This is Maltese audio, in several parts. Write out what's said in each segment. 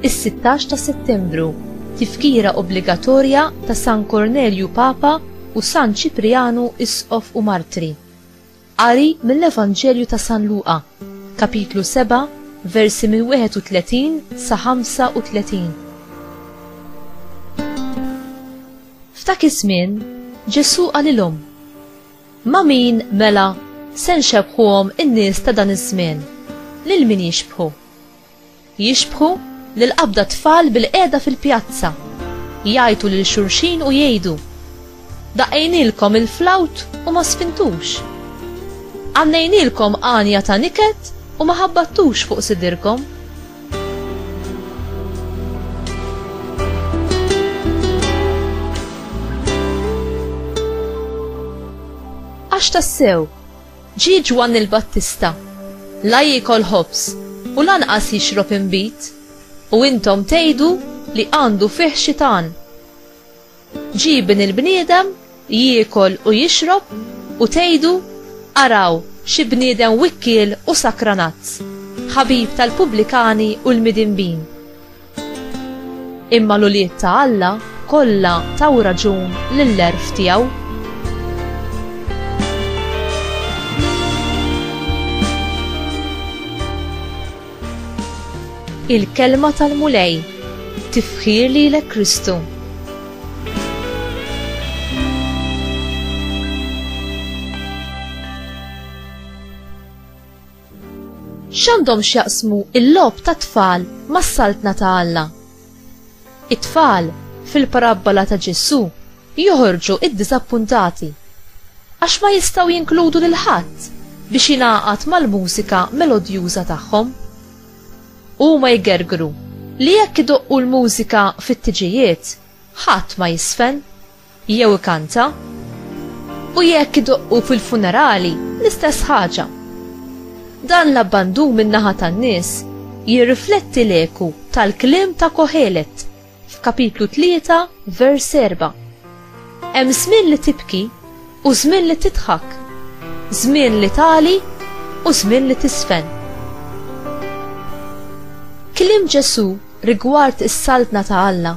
Is-16 ta' Settembru, tifkira obbligatorja ta' San Kornelju Papa u San Ċiprianu Isqof u Martri. Qari mill-Evanġelju ta' San Luqa, kapitlu 7, versi minn 31 sa 35. F'dak iż-żmien Ġesù qalilhom, Ma' min, mela, se nxebbħuhom in-nies ta' dan iż-żmien? Lil min jixbħu? Jixbħu lil qabda tfal bilqiegħda fil-pjazza, jgħajtu lil xulxin u jgħidu, Daqqejnielkom il-flawt u ma sfintux. Għannejnielkom għanja ta' niket u ma ħabbattux fuq sidirkom. Għax tassew, Ġie Ġwanni l-Battista, La jiekol ħobż, u lanqas jixrob inbid, u intom tgħidu li għandu fih xi tagħan. Ġie Ibn il-bniedem, jiekol u jixrob, u tgħidu, 'Araw, xi bniedem wikkiel u sakranazz, ħabib tal-pubblikani u l-midinbin! Imma l-ulied ta' Alla kollha taw raġun lill-għerf tiegħu. Il-Kelma tal-Mulej, Tifħir lilek Kristu. X'għandhom x'jaqsmu l-logħob tat-tfal mas-Saltna ta' Alla? It-tfal, fil-parabbola ta' Ġesù, joħorġu ddiżappuntati għax ma jistgħu jinkludu lil ħadd biex jingħaqad mal-mużika melodjuża tagħhom. Huma jgergru li jekk idoqqu l-mużika fit-tiġijiet, ħadd ma jisfen. Jew ikanta. U jekk idoqqu fil-funerali, l-istess ħaġa. Dan l-abbandun min-naħa tan-nies jirrifletti l-eku tal-kliem ta' Kohelet f'kapitlu tlieta vers erbgħa. Hemm żmien li tibki U żmien li tidħak. Żmien li tagħli u żmien li tiżfen. Kliem Ġesù rigward is-Saltna ta' Alla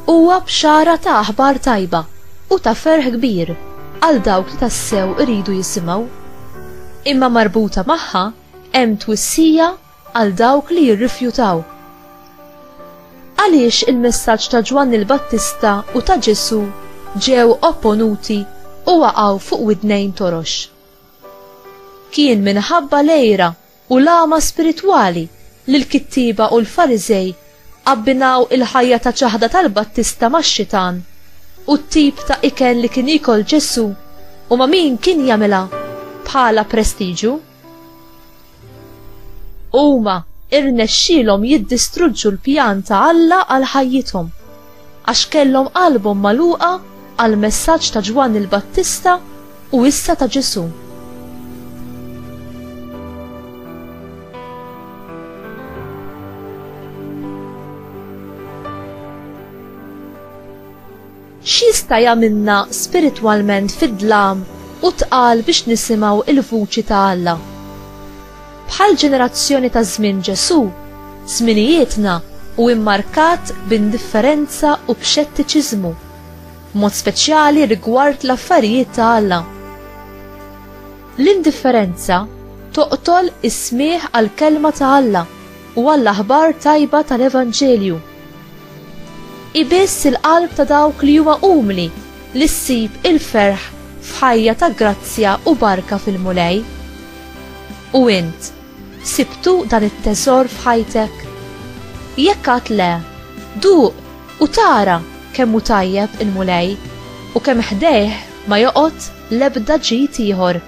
huwa bxara ta' aħbar tajba u ta' ferħ kbir għal dawk li tassew iridu jisimgħu. Imma marbuta magħha hemm twissija għal dawk li jirrifjutaw. Għaliex il-messaġġ ta' Ġwanni l-Battista u ta' Ġesù ġew opponuti u waqgħu fuq widnejn torox? Kien minħabba l-għira u l-għama spiritwali li l-kittieba u l-Fariżej abbinaw il-ħajja ta' ċaħda tal-Battista max-Xitan u t-tip ta' ikel li kien jiekol Ġesù u ma' min kien jagħmilha bħala prestiġu. Huma irnexxilhom jiddistruġġu l-pjan ta' Alla għal ħajjithom għax kellhom qalbhom magħluqa għal messaġġ ta' Ġwanni l-Battista u issa ta' Ġesù. X'jista' jagħmilna spiritwalment fid-dlam u tqal biex nisimgħu l-vuċi ta' Alla? Bħall-ġenerazzjoni ta' żmien Ġesù, żminijietna hu immarkat b'indifferenza u b'xettiċiżmu, b'mod speċjali rigward l-affarijiet ta' Alla. L-indifferenza toqtol is-smigħ għall-Kelma ta' Alla u għall-aħbar tajba tal-Evanġelju. Hi biss il-qalb ta' dawk li huma umli li ssib il-ferħ f'ħajja ta' grazzja u barka fil-Mulej. U int, sibtu dan it-teżor f'ħajtek? Jekk għad le, duq u tara kemm hu tajjeb il-Mulej u kemm ħdejh ma joqgħod l-ebda ġid ieħor.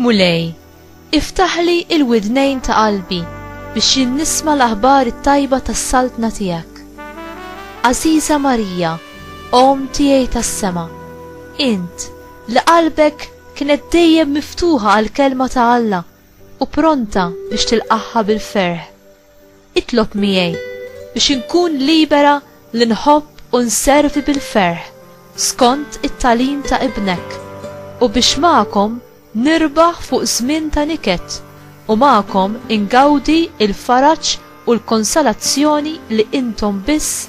Mulej, iftaħli il-widnejn ta' qalbi biex jien nisma' l-aħbar it-tajba tas-saltna tiegħek. Aziza Marija, Om tiegħi tas-sema, int li qalbek kienet dejjem miftuħa għall-kelma ta' Alla u pronta biex tilqagħha bil-ferħ. Itlob miegħi biex inkun libera li nħobb u nservi bil-ferħ skont it-tagħlim ta' Ibnek, u biex magħkom nirbaħ fuq żmien ta' niket u magħkom ingawdi l-faraġ u l-konsolazzjoni li intom biss